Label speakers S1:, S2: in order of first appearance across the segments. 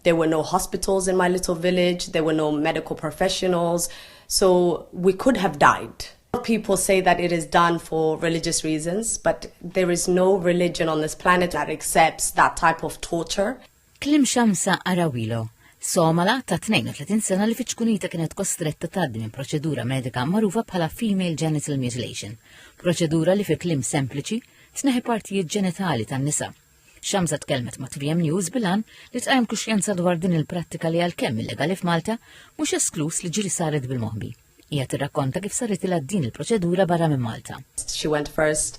S1: There were no hospitals in my little village, there were no medical professionals, so we could have died. People say that it is done for religious reasons, but there is no religion on this planet that accepts that type of torture. Kliem Shamsa
S2: Arawilo, Somala ta' 32 sena li fiċ-ċkunita kienet kostretta tgħaddi minn proċedura medika magħrufa bħala female genital mutilation, proċedura li fi kliem sempliċi tneħi partijiet ġenitali tan-nisa. Xamza tkellmet ma' 3M News bilan li tqajjem kuxjenza dwar din il-prattika li għalkemm illegali f'Malta, mhux eskluż li ġieli saret bil-moħbi. Hija tirrakkonta kif saritilha din il-proċedura barra minn Malta. She went first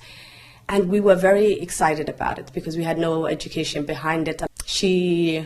S1: and we were very excited about it because we had no education behind it. She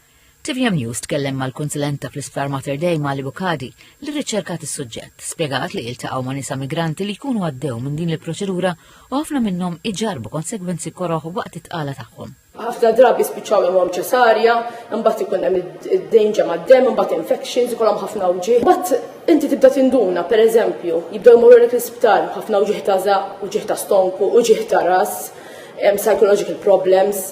S1: Tvm News
S2: tkellem mal-kunsilenta fl-Isptar Mater Dei Mali Bucadi li rriċerkat is-suġġett, spjegat li iltaqgħu ma' nisa migranti li jkunu għaddew minn din il-proċedura u ħafna minnhom iġarrbu konsegwenzi koroh waqt it-tqala tagħhom. Ħafna drabi spiċċaw
S3: jagħmluhom ċesarja, imbagħad ikun hemm id-danger mad-demm, imbagħad infections, ikollhom ħafna wġieħ. Imbagħad inti tibda tinduna, pereżempju, jibdew jmorru lek l-isptar ħafna wġieħ ta' żaq, wġieħ ta' stonku, wġieħ ta' ras, psychological problems.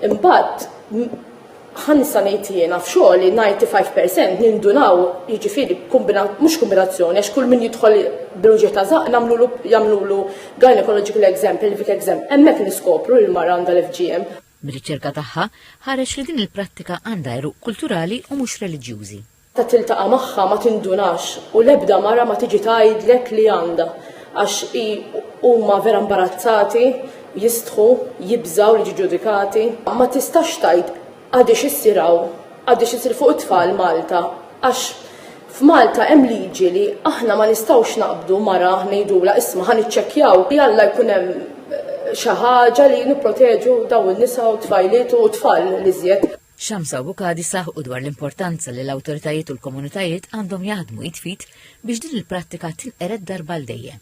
S3: Imbagħad ħansa ngħid jiena f'xogħli 95% nindunaw jiġifieri mhux kombinazzjoni għax kull min jidħol b'ruġieħ ta' żaqq nagħmlulu jagħmlulu gynecological exam, pelvic exam, hemmhekk niskopru li l-mara għandha l-FGM. Mir-riċerka tagħha
S2: ħareġ li din il-prattika għandha għeruq kulturali u mhux reliġjużi. ta' tiltaqa'
S3: magħha ma tindunax u l-ebda mara ma tiġi tgħidlek li għandha għax hi huma vera mbarazzati, jistħu, jibżgħu li jiġu ġudikati. Ma tistax tgħid għadiex issir hawn, għadiex issir fuq it-tfal Malta għax f'Malta hemm liġi li aħna ma nistgħux naqbdu mara ngħidulha isma' ħa niċċekkjaw li alla jkun hemm xi ħaġa li nipproteġu dawn in-nisa u t-tfajliet u t-tfal l-iżjed. Shamsa u Bucadi
S2: saħqu dwar l-importanza li l-awtoritajiet u l-komunitajiet għandhom jaħdmu id f'id biex din il-prattika tinqered darba għal dejjem.